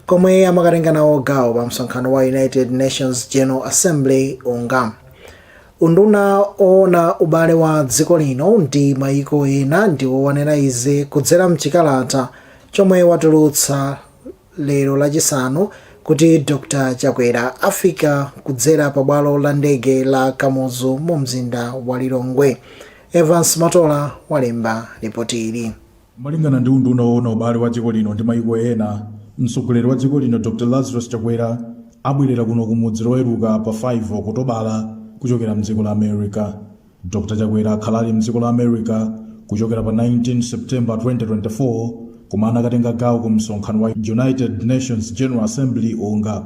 komwe amakatenga nawo gawo pa msonkhano wa United Nations General Assembly unga unduna oona ubale wa dziko lino ndi mayiko ena ndiwo wanena izi kudzera mchikalata chomwe watulutsa lero lachisanu kuti dr chakwera afika kudzera pa bwalo la ndege la kamuzu mu mzinda wa lilongwe evans matola walemba ripoti ili Malingana ndi unduna woona ubale wa dziko lino ndi mayiko ena, mtsogoleri wa dziko lino Dr Lazarus Chakwera abwelera kuno ku mudzi loweruka pa 5 Okutobala kuchokera mdziko la America. Dr Chakwera akhala ali mdziko la America kuchokera pa 19 September 2024 komwe anakatenga gawo ku msonkhano wa United Nations General Assembly, UNGA.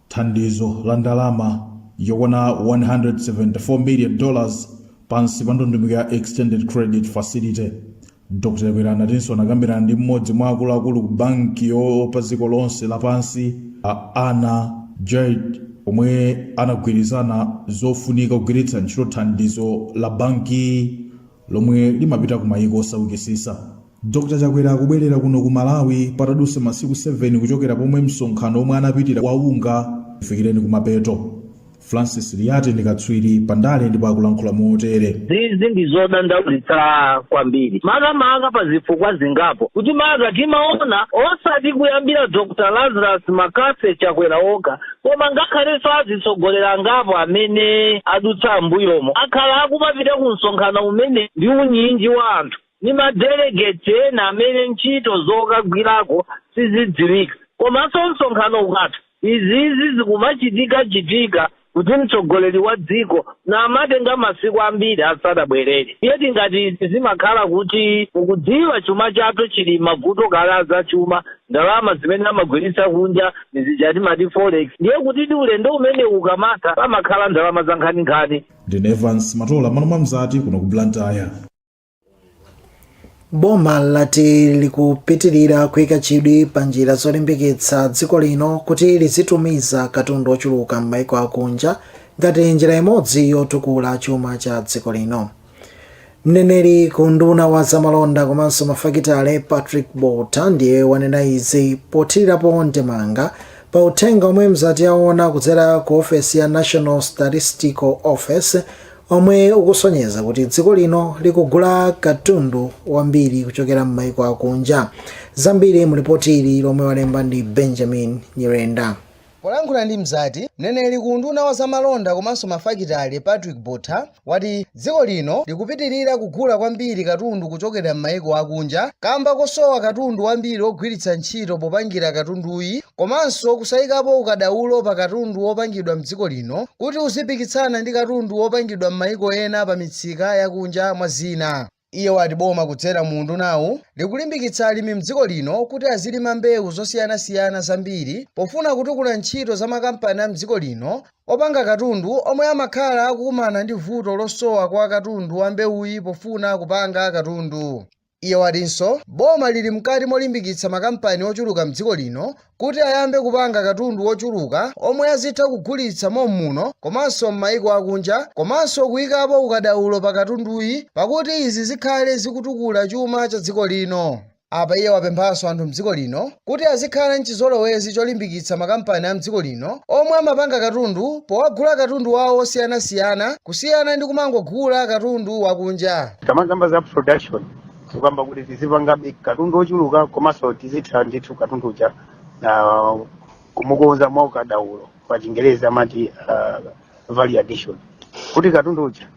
Thandizo la ndalama yokwana 174 million dollars pansi pa ndondomeko ya Extended Credit Facility. Dr Chakwera anatinso anakambirana ndi mmodzi mwa akuluakulu ku banki yopa dziko lonse lapansi Anna Bjerde omwe anagwirizana zofunika kugwiritsa ntchito thandizo la bankiyi lomwe limapita ku mayiko osaukitsitsa. Dr Chakwera akubwelera kuno ku Malawi patadutsa masiku 7 kuchokera pomwe msonkhano omwe anapitira wa UNGA ufikireni kumapeto. Francis Liyati ndi katswiri pa ndale ndipo akulankhula motere. izizi ndi zodandaulitsa kwambiri makamaka pa zifukwa zingapo kuti maka timaona osati kuyambira dr lazarus McCarthy chakwera okha Koma ngakhalenso azitsogoleri angapo amene adutsa m'mbuyomo akhala akumapita ku msonkhano umenewu ndi unyinji wa anthu ndi ma delegates ena amene ntchito zokagwirako sizidziwika komanso msonkhano ukatha izizi zikumachitika chitika kuti mtsogoleri wa dziko amatenga masiku ambiri asadabwerere ndiye tingati zimakhala kuti mukudziwa chuma chathu chili mavuto kale azachuma Ndalama zimene amagwiritsa kunja ndi zija timamati forex, ndiye kutidi ulendo umenewu ukamatha pamakhala ndalama zankhaninkhani. Ndine Evans Matola m'malo mwa Mzati kuno ku Blantyre. Boma lati likupitilira kuika chidwi pa njira zolimbikitsa dziko lino kuti lizitumiza katundu ochuluka m'maiko akunja ngati njira imodzi yotukula chuma cha dziko lino. Mneneri ku unduna wa zamalonda komanso mafakitale Patrick Botha ndiye wanena izi pothirirapo ndemanga pa uthenga omwe mzati yaona kudzera ku ofesi ya National Statistical Office omwe ukusonyeza kuti dziko lino likugula katundu wambiri kuchokera m'maiko akunja. Zambiri mu lipoti ili lomwe walemba ndi Benjamin Nyirenda. Polankhula ndi Mzati, mneneri ku unduna wa zamalonda komanso mafakitale Patrick Botha wati dziko lino likupitilira kugula kwambiri katundu kuchokera m'maiko akunja kamba kosowa katundu wambiri ogwiritsa ntchito popangira katunduyi komanso kusaikapo ukadaulo pa katundu wopangidwa m'dziko lino kuti uzipikitsana ndi katundu wopangidwa m'maiko ena pa mitsika yakunja mwa zina. Iye wati boma kudzera mu undunawu likulimbikitsa alimi m'dziko lino kuti azilima mbewu zosiyanasiyana zambiri pofuna kutukula ntchito za makampani a m'dziko lino opanga katundu omwe amakhala akukumana ndi vuto losowa kwa katundu wa mbewuyi pofuna kupanga katundu. Iye watinso boma lili mkati molimbikitsa makampani ochuluka m'dziko lino kuti ayambe kupanga katundu wochuluka omwe azitha kugulitsa mommuno komanso m'mayiko akunja komanso kuyikapo ukadaulo pa katunduyi pakuti izi zikhale zikutukula chuma cha dziko lino. Apa iye wapemphanso anthu mdziko lino kuti azikhala n'chizolowezi cholimbikitsa makampani a mdziko lino omwe amapanga katundu powagula katundu wawo wosiyanasiyana kusiyana ndi kumangogula katundu wakunja. Tikamakamba za production tikukamba kuti tizipangabe katundu ochuluka komanso tizitha ndithu katundu uja ah, kumukonza mwa ukadaulo pa chingerezi amati ah, value addition kuti katundu uja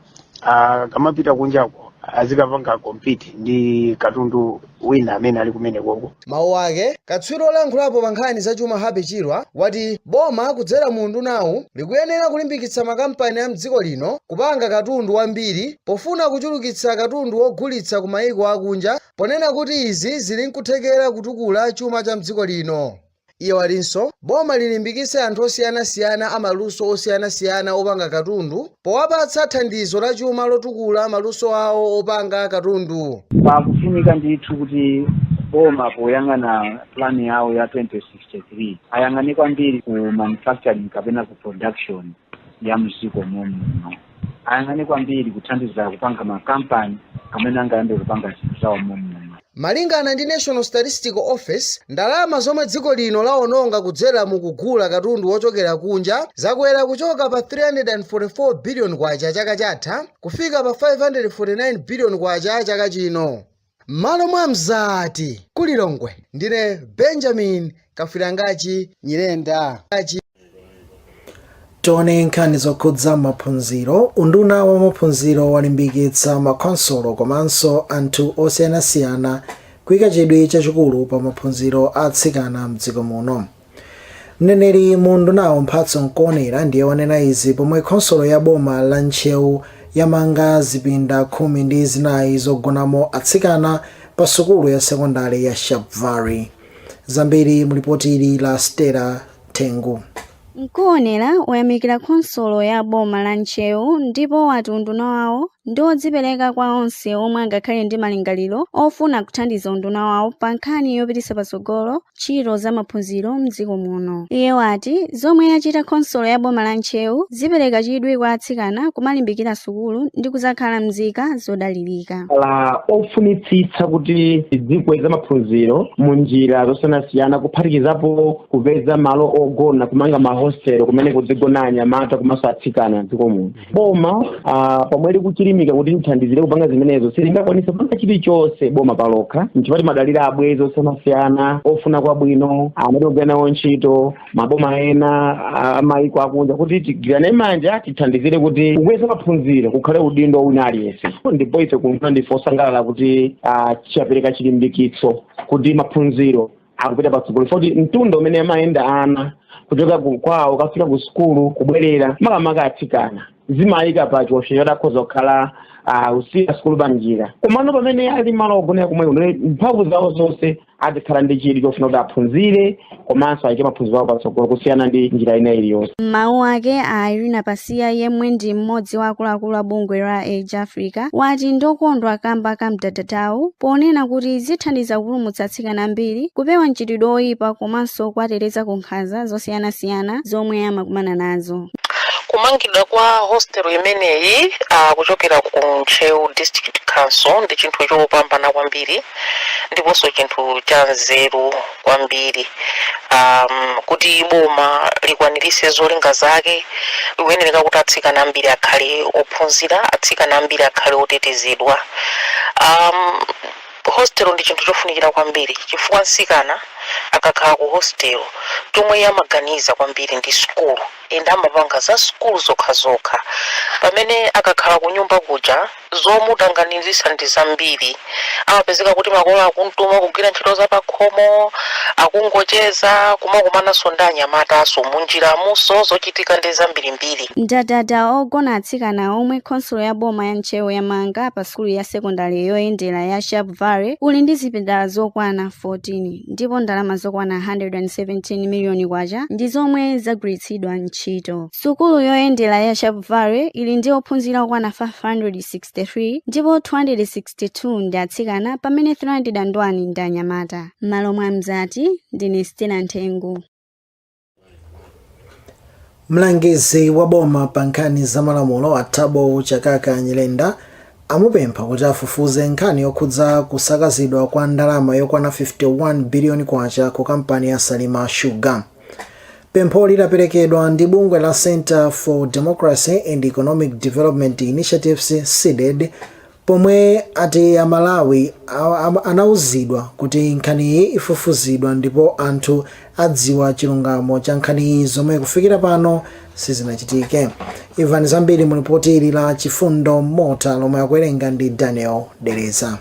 ah, akamapita kunjako azikapanga compete ndi katundu wina amene ali kumenekoko Mawu ake, katswiri olankhulapo pa nkhani za chuma Happy Chirwa wati boma kudzera mu undunawu likuyenera kulimbikitsa makampani a m'dziko lino kupanga katundu wambiri pofuna kuchulukitsa katundu wogulitsa ku mayiko akunja ponena kuti izi zili n'kuthekera kutukula chuma cha m'dziko lino. Iye watinso boma lilimbikitse anthu osiyanasiyana a maluso osiyanasiyana opanga katundu powapatsa thandizo la chuma lotukula maluso awo opanga katundu. Pakufunika ndithu kuti boma poyang'ana plan yawo ya 2063 ayang'ane kwambiri ku manufacturing kapena ku production. ya m'dziko mommuno ayang'ane kwambiri kuthandiza kupanga makampani amene angayambe kupanga zinthu zawo mommuno Malingana ndi National Statistical Office, ndalama zomwe dziko lino lawononga kudzera mu kugula katundu wochokera kunja zakwera kuchoka pa 344 billion kwacha chaka chatha kufika pa 549 billion kwacha chaka chino. M'malo mwa Mzati ku Lilongwe, ndine Benjamin Kafirangachi Nyirenda. Tione nkhani zokhudza maphunziro. Unduna wa maphunziro walimbikitsa makhonsolo komanso anthu osiyanasiyana kuika chidwi chachikulu pa maphunziro a atsikana m'dziko muno. Mneneri mu undunawo Mphatso Nkuonera ndiye wanena izi pomwe khonsolo ya boma la Ntcheu yamanga zipinda khumi ndi zinayi zogonamo atsikana pa sukulu ya sekondale ya Sharpevale. Zambiri mu lipoti ili la Stella Tengu. Nkuonera wayamikira khonsolo ya boma la Ntcheu ndipo wati unduna wawo ndi odzipereka kwa onse omwe angakhale ndi malingaliro ofuna kuthandiza unduna wawo pa nkhani yopititsa patsogolo ntchito za maphunziro m'dziko muno. Iye wati zomwe yachita khonsolo ya boma la Ntcheu zipereka chidwi kwa atsikana kumalimbikira sukulu ndi kudzakhala mzika zodalirika. khala ofunitsitsa kuti tidzikweza maphunziro mu njira zosiyanasiyana kuphatikizapo kupeza malo ogona kumanga mahostelo kumene kuzigona anyamata komanso atsikana m'dziko muno. boma uh, pomwe likuchilimika kuti lithandizire kupanga zimenezo silingakwanise kupanga chilichonse boma palokha nchifukwa timadalira abwezi osiyanasiyana ofuna kwabwino amene timagwira nawo ntchito maboma ena ah, amayiko akunja kuti tigwirane manja tithandizire kuti kukweza maphunziro kukhale udindo wa wina aliyense ndipo ife kumva ndife osangalala kuti ah, chapereka chilimbikitso kuti maphunziro akupita patsogolo poti mtunda umene amayenda ana kuchoka ku- kwawo kukafika ku sukulu kubwerera makamaka atsikana zimawayika pa chiopsezo choti akhoza kukhala ah, kusiya sukulu pa njira komano pamene ali malo ogonera komweko mphamvu zawo zonse azikhala ndi chidwi chofuna kuti aphunzire komanso ayike maphunziro awo patsogolo kusiyana ndi njira ina iliyonse M'mawu ake a Irina Pasiya yemwe ndi mmodzi wa akuluakulu a bungwe la Age Africa wati ndokondwa kamba ka mdadadawu ponena kuti zithandiza kupulumutsa atsikana ambiri kupewa mchitidwe oyipa komanso kuwateteza ku nkhanza zosiyanasiyana zomwe amakumana nazo. kumangidwa kwa hostel imeneyi uh, kuchokera ku ntcheu district council ndi chinthu chopambana kwambiri ndiponso chinthu cha nzeru kwambiri um, kuti boma likwaniritse zolinga zake likuyenereka kuti atsikana ambiri akhale ophunzira atsikana ambiri akhale otetezedwa um, Hostel ndi chinthu chofunikira kwambiri chifukwa msikana akakhala ku hostel chomwe iye amaganiza kwambiri ndi sukulu and amapanga za sukulu zokhazokha pamene akakhala kunyumba kuja zomutanganizisa ndi zambiri amapezeka kuti makolo akumtuma kugwira ntchito za pakhomo akungocheza komakumananso ndi anyamataso munjiramunso zochitika ndi zambirimbiri. Mdadada ogona atsikana omwe khonsolo ya boma ya Ntcheu yamanga pa. sukulu ya sekondale yoyendera ya Sharpevale uli ndi zipinda zokwana 14 ndipo ndalama zokwana 117 miliyoni kwacha ndi zomwe zagwiritsidwa ntchito. Sukulu yoyendera ya Sharpevale ili ndi ophunzira okwana 563 ndipo 262 ndi atsikana pamene 301 ndi anyamata. M'malo mwa Mzati, ndine Stella Nthengu. mlangizi wa boma pa nkhani za malamulo a thabo chakaka nyirenda amupempha kuti afufuze nkhani yokhudza kusakazidwa kwa ndalama yokwana 51 biliyoni kwacha ku kampani ya salima sugar pempholi laperekedwa ndi bungwe la center for democracy and economic development initiatives cdedi Pomwe ati a Malawi anauzidwa kuti nkhaniyi ifufuzidwa ndipo anthu adziwa chilungamo cha nkhaniyi zomwe kufikira pano sizinachitike. Imvani zambiri mu lipoti ili la Chifundo Mota lomwe akuwerenga ndi Daniel Dereza.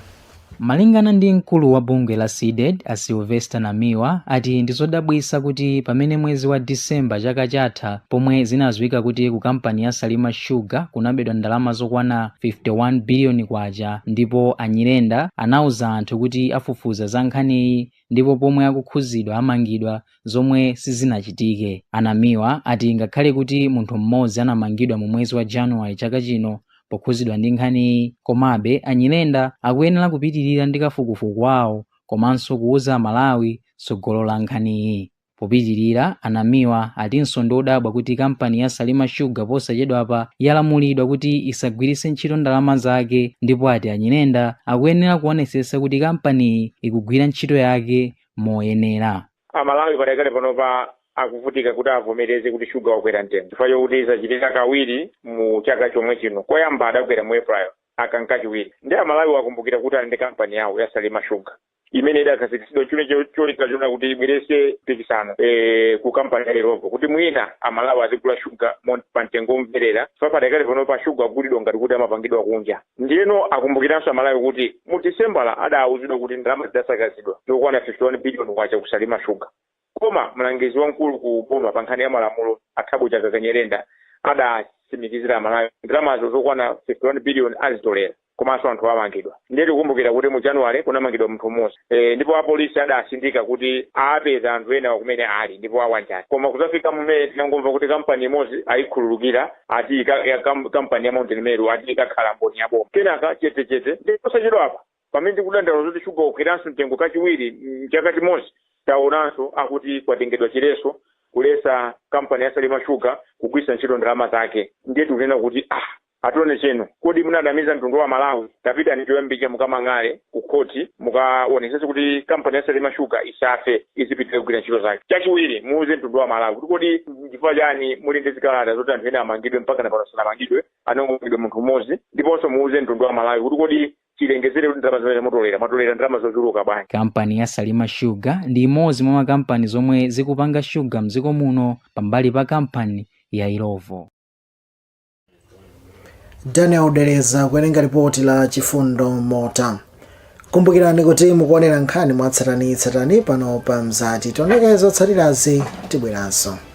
Malingana ndi mkulu wa bungwe la CDEDI a Sylvester Namiwa ati ndizodabwisa kuti pamene mwezi wa December chaka chatha, pomwe zinadziwika kuti ku kampani ya Salima Sugar kunabedwa ndalama zokwana 51 biliyoni kwacha ndipo a Nyirenda anauza anthu kuti afufuza za nkhaniyi ndipo omwe akukhuzidwa amangidwa zomwe sizinachitike. A Namiwa ati ngakhale kuti munthu mmodzi anamangidwa mu mwezi wa January chaka chino pokhuzidwa ndi nkhaniyi, komabe a Nyirenda akuyenera kupitilira ndi kafukufuku wawo komanso kuuza Amalawi tsogolo la nkhaniyi. Popitilira, a Namiwa atinso ndi odabwa kuti kampani ya Salima Sugar posachedwapa yalamulidwa kuti isagwiritse ntchito ndalama zake ndipo ati a Nyirenda akuyenera kuonetsetsa kuti kampaniyi ikugwira ntchito yake moyenera. Amalawi padakali panopa akuvutika kuti avomereze kuti shuga wakwera mtengo chifukwa chokuti zachitika kawiri mu chaka chomwe chino. Koyamba adakwera mu April, aka nkachiwiri. Ndiye Amalawiwo akumbukira kuti ali ndi kampani yawo ya Salima Sugar. imene idakhazikitsidwa chule cholinga choona kuti ibwerese mpikisano e, ku kampani ya Illovo kuti mwina amalawi azigula shuga mo- pa mtengo omverera chifukwa padakali panopa shuga akugulidwa ngati kuti amapangidwa kunja ndiyeno akumbukiranso amalawi kuti mu disembala adaawuzidwa kuti ndalama zidasakazidwa zokwana 51 biliyoni kwacha ku Salima Sugar Koma mlangizi wamkulu ku boma pa nkhani ya malamulo a Thabo Chakaka Nyirenda adatsimikizira Amalawi kuti ndalamazo zokwana 51 biliyoni azitolera komanso anthuwo amangidwa. Ndiye tikukumbukira kuti mu January kunamangidwa munthu mmodzi ndipo apolisi adatsindika kuti apeza anthu enawo kumene ali ndipo awanjata. Koma kudzafika mu May tinangomva kuti kampani imodzi ayikhululukira ati kampani ya Mount Meru ati ikakhala mboni ya boma. Kenaka chetechete. Ndiye posachedwapa Pamene tikudandaula zoti shuga wakweranso mtengo kachiwiri m'chaka chimodzi, taonanso akuti kwatengedwa chiletso kuletsa kampani ya Salima Sugar kugwiritsa ntchito ndalama zake. Ndiye tikunena kuti, ah! Attorney General, kodi munanamiza mtundu wa Amalawi? Tapitani choyambirira mukamang'ale ku khoti, mukaonetsetse kuti kampani ya Salima Sugar isafe, izipitirira kugwira ntchito zake. Chachiwiri, muuze mtundu wa Amalawi kuti kodi n'chifukwa chiyani muli ndi zikalata zoti anthu ena amangidwe mpakana pano sanamangidwe, anangomangidwa munthu mmodzi? Ndiponso muuze mtundu wa Amalawi kuti kodi chilengezere kuti ndalama zimene muzitolera mwatolera ndalama zochuluka bwanji Kampani ya Salima Sugar ndi imodzi mwa makampani zomwe zikupanga shuga mdziko muno pambali pa kampani ya Illovo. Daniel Dereza kuwerenga ripoti la chifundo mota kumbukirani kuti mukuonera nkhani mwatsatanitsatani pano pa mzati tioneko zotsatirazi tibweranso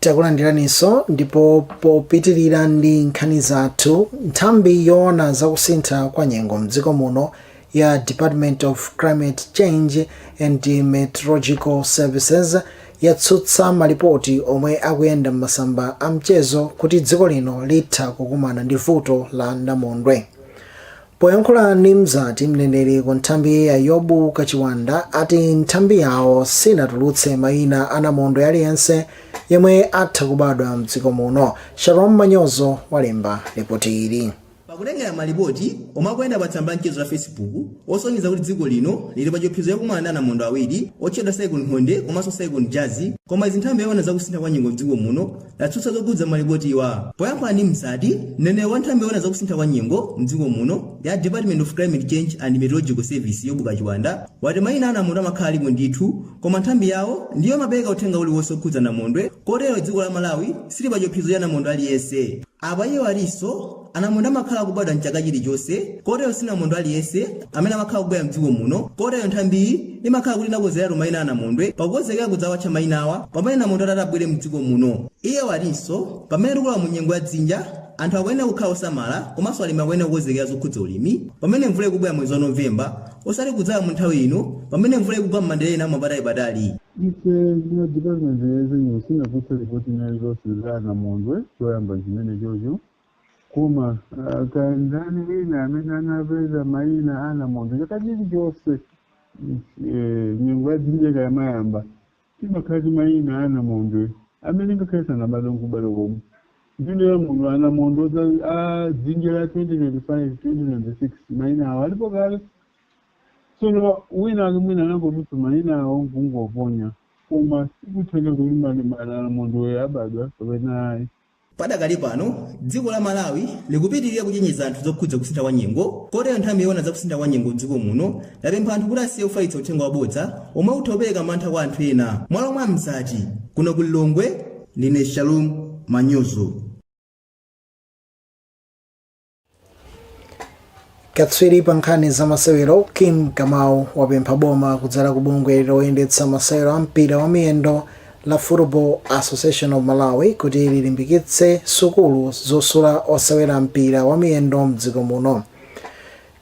takulandiraninso ndipo popitirira ndi nkhani zathu nthambi yoona za kusintha kwa nyengo mdziko muno ya department of climate change and meteorological services yatsutsa malipoti omwe akuyenda m'masamba a mchezo kuti dziko lino litha kukumana ndi vuto la namondwe Poyankhula ndi Mzati, mneneri ku nthambiyi a Yobu Kachiwanda ati nthambi yawo sinatulutse maina a Namondwe aliyense yemwe atha kubadwa mdziko muno. Shalom Manyozo walemba lipoti ili. Pakhala kukubwera malipoti omwe akuyenda pa tsamba la mchezo la Facebook osonyeza kuti dziko lino lili pa chiopsezo chakumana ndi anamondwe awiri otchedwa Cyclone Nthonde komanso Cyclone Jazzy, koma izi nthambi yoona za kusintha kwa nyengo mdziko muno yatsutsa zokhudza malipotiwa. Poyankhula ndi Mzati, mneneri wa nthambi yoona zakusintha kwa nyengo m'dziko muno ya Department of Climate Change and Meteorological Service, Yobu Kachiwanda, wati maina a namondwe amakhala alipo ndithu koma nthambi yawo ndiyo imapereka uthenga uliwonse okhudza namondwe kotero dziko la Malawi sili pa chiopsezo cha namondwe aliyense. Apa iye watinso Anamondwe amakhala akubadwa m'chaka chilichonse, kotero sinamondwe aliyense amene amakhala akubwera m'dziko muno, kotero nthambiyi imakhala kuti inakonzeratu maina a anamondwe pakukonzekera kudzawatcha mainawa pamene namondwe atati abwere m'dziko muno. Iye watinso pamene tikulowa mu nyengo ya dzinja, anthu akuyenera kukhala osamala komanso alimi akuyenera kukonzekera zokhudza ulimi pamene mvula ikubwera mwezi wa November osati kudzala mu nthawi ino pamene mvula ikugwa m'madera ena mwa apatalipatali. Ife a Dipatimenti ya Zanyengo sitinatulutse lipoti lina lililonse la namondwe choyamba chimenechocho. Koma ah, kaya ndani wina amene anapeza mayina a anamondwe chaka chilichonse mm, eh, nyengo ya dzinja ikamayamba timakhala ndi mayina a anamondwe amene ngakhale sanabadwe nkubadwa komwe ndiye pamenepo anamondwe za- a dzinja la 2025 2026 mayina awo alipo kale tsono wina ake mwina anangotulutsa mayina awo nkungoponya koma sikutanthauza kuti anamondwe abadwa kapena ayi Padakali pano, dziko la Malawi likupitilira kuchenjeza anthu zokhudza kusintha kwa nyengo, kotero nthambi yoona za kusintha kwa nyengo m'dziko muno yapempha anthu kuti asiye kufalitsa uthenga wabodza omwe utha kupereka mantha kwa anthu ena. M'malo mwa Mzati, kuno ku Lilongwe, ndine Shalom Manyozo. katswiri pa nkhani za masewero kim kamau wapempha boma kudzera ku bungwe loyendetsa masewero a mpira wa miyendo la football association of malawi kuti lilimbikitse sukulu zosula osewera mpira wa miyendo mdziko muno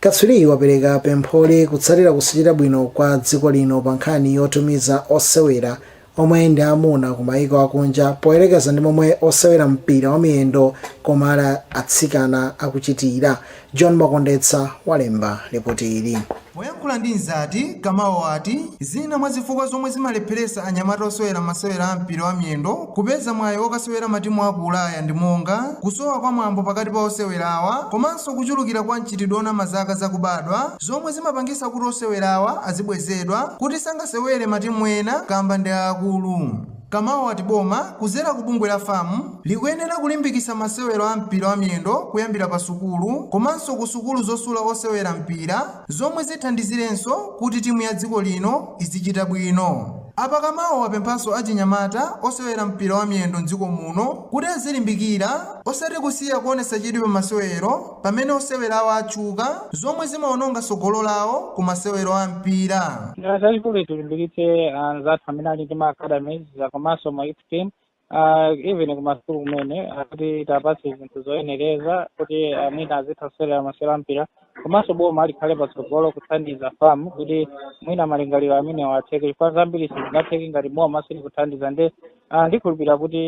katswiriyi wapereka pempholi kutsatira kusachita bwino kwa dziko lino pa nkhani yotumiza osewera omwe ndi amuna ku mayiko akunja poyerekeza ndi momwe osewera mpira wa miyendo koma ali atsikana akuchitira. John Makondetsa walemba lipoti ili. Poyankhula ndi Mzati, Kamau wati zina mwa zifukwa zomwe zimalepheretsa anyamata osewera masewera a mpira wa miyendo kupeza mwayi okasewera m'matimu aku Ulaya ndi monga kusowa kwa mwambo pakati pa osewerawa komanso kuchulukira kwa mchitidwe onama zaka zakubadwa, zomwe zimapangisa kuti osewerawa azibwezedwa kuti sangasewere matimu ena kamba ndi aakulu. Kamau wati boma kuzera ku bungwe la fam likuyenera kulimbikisa masewero a mpira wa miyendo kuyambira pa sukulu komanso ku sukulu zosula osewera mpira zomwe zithandizirenso kuti timu ya dziko lino izichita bwino. Apa Kamau wapemphanso achinyamata osewera mpira wa miyendo m'dziko muno kuti azilimbikira osati kusiya kuonesa chidwi pa masewero. Pamene osewerawa atchuka, zomwe zimaononga tsogolo lawo ku masewero a mpira. Chachikulu tilimbikitse anzathu amene ali ndi ma academies ah, komanso ma youth team ah, even kumasukulu kumene ah, kuti tiwapatse zinthu zoyenereza kuti ah, mwina azitha kusewera masewero a mpira komanso boma likhale patsogolo kuthandiza fam kuti mwina malingaliro amenewa atheke chifukwa zambiri sizingatheke ngati boma silikuthandiza nde ah, ndikhulupirira kuti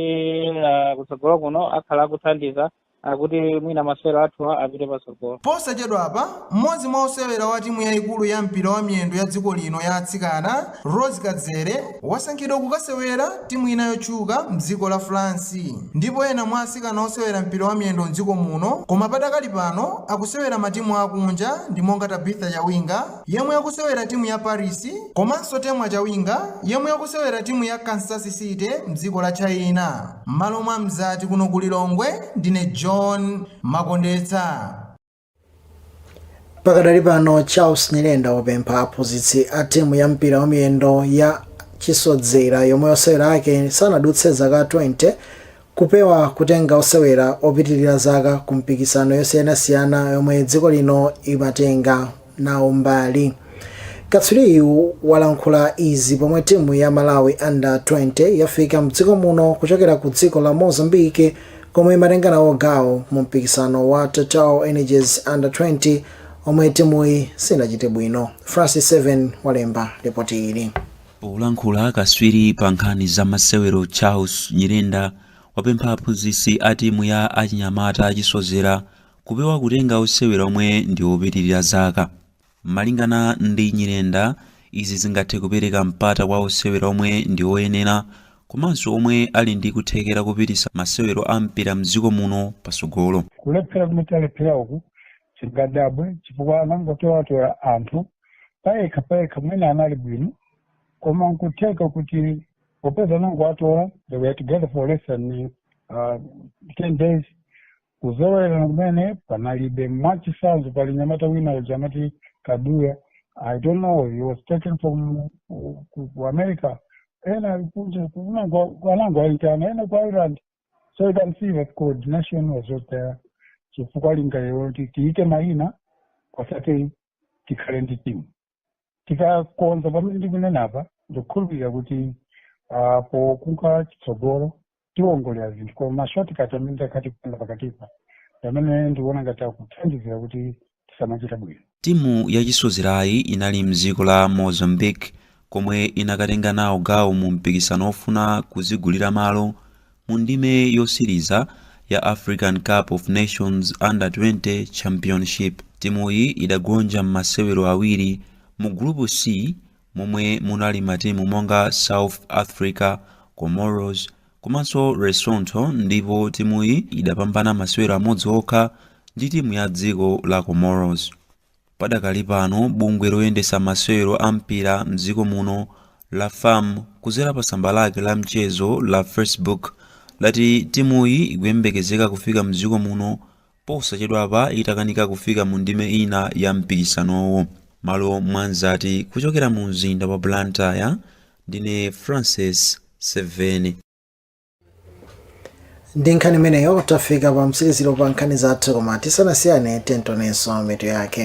ah, kutsogolo kuno akhala akuthandiza kuti mwina masewero athu apite patsogolo Posachedwapa, mmodzi mwa osewera wa timu yaikulu ya mpira wa miyendo ya dziko lino ya atsikana, Rose Kadzere, wasankhidwa kukasewera timu ina yotchuka mdziko la France. Ndipo ena mwa atsikana osewera mpira wa miyendo mdziko muno koma padakali pano akusewera matimu akunja ndi monga Tabitha Chawinga yemwe akusewera timu ya Paris komanso Temwa Chawinga yemwe akusewera timu ya Kansas City mdziko la China. M'malo mwa Mzati kuno ku Lilongwe ndine John Makondetsa. Pakadali pano Charles Nyirenda wapempha aphunzitsi a timu ya mpira wamiyendo ya chisodzera yomwe osewera ake sanadutse zaka 20 kupewa kutenga osewera opitilira zaka ku mipikisano yosiyanasiyana yomwe dziko lino imatenga. nawo mbali. Katswiriyu walankhula izi pomwe timu ya Malawi Under 20 yafika mdziko muno kuchokera ku dziko la Mozambique komwe imatenga nawo gawo mu mpikisano wa Total Energies Under 20 omwe timuyi sinachite bwino. Francis Seveni walemba ripoti ili. Polankhula katswiri pa nkhani za masewero Charles Nyirenda wapempha aphunzitsi a timu ya achinyamata achisodzera Kupewa kutenga osewera omwe ndi opitilira zaka. Malingana ndi Nyirenda, izi zingathe kupereka mpata kwa osewera omwe ndi oyenera komanso omwe ali ndi kuthekera kupititsa masewero a mpira mdziko muno patsogolo. Kulephera kumene talephera uku sitingadabwe chifukwa anangotolatola anthu payekha payekha mwina anali bwino koma nkutheka kuti popeza anangowatola they were together for less than 10 days Kuzolowerana kumene panalibe. Mwachitsanzo, pali mnyamata wina uja amati Kaduya, I don't know, he was taken from uh, ku, ku America. Ena ali kunja, kunango- anangoyitana, ena ku Ireland. So you can see that coordination was not there. Chifukwa lingaliro loti tiike mayina osati tikhale ndi timu. tikakonza pamene ndikunenapa ndikukhulupirira kuti ah, pokunka chitsogolo tiwongolera zinthu koma mashotikati amene takhala tikupanga pakatipa amene ndikuona ngati akuthandizira kuti tisamachite bwino timu yachisodzerayi inali mdziko la mozambique komwe inakatenga nawo gawo mu mpikisano ofuna kudzigulira malo Mu ndime yotsiriza ya African Cup of Nations Under 20 Championship, timuyi idagonja mmasewero awiri mu Gulupu C momwe munali matimu monga South Africa, Comoros komanso Lesotho ndipo timuyi idapambana masewero amodzi okha ndi timu ya dziko la Comoros. Padakali pano bungwe loyendetsa masewero a mpira mdziko muno la FAM kudzera pa tsamba lake la mchezo la Facebook lati timuyi ikuyembekezeka kufika mdziko muno posachedwapa itakanika kufika mu ndime ina ya mpikisanowu. Mmalo mwa Mzati kuchokera mu mzinda wa Blantyre, ndine Francis Seveni. ndi nkhani imeneyo tafika pa mtsiriziro pa nkhani zathu koma tisanasiyane tamvaninso mitu yake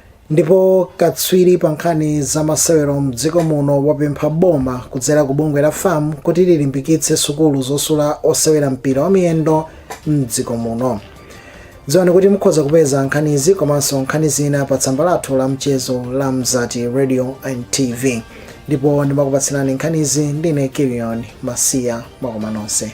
Ndipo katswiri pa nkhani za masewero mdziko muno wapempha boma kudzera ku bungwe la FAM kuti lilimbikitse sukulu zosula osewera mpira wa miyendo mdziko muno. Dziwani kuti mukhoza kupeza nkhanizi komanso nkhani zina pa tsamba lathu la mchezo la Mzati Radio and TV. Ndipo ndimakupatsirani nkhanizi ndine Kilion Masiya mwakoma nonse.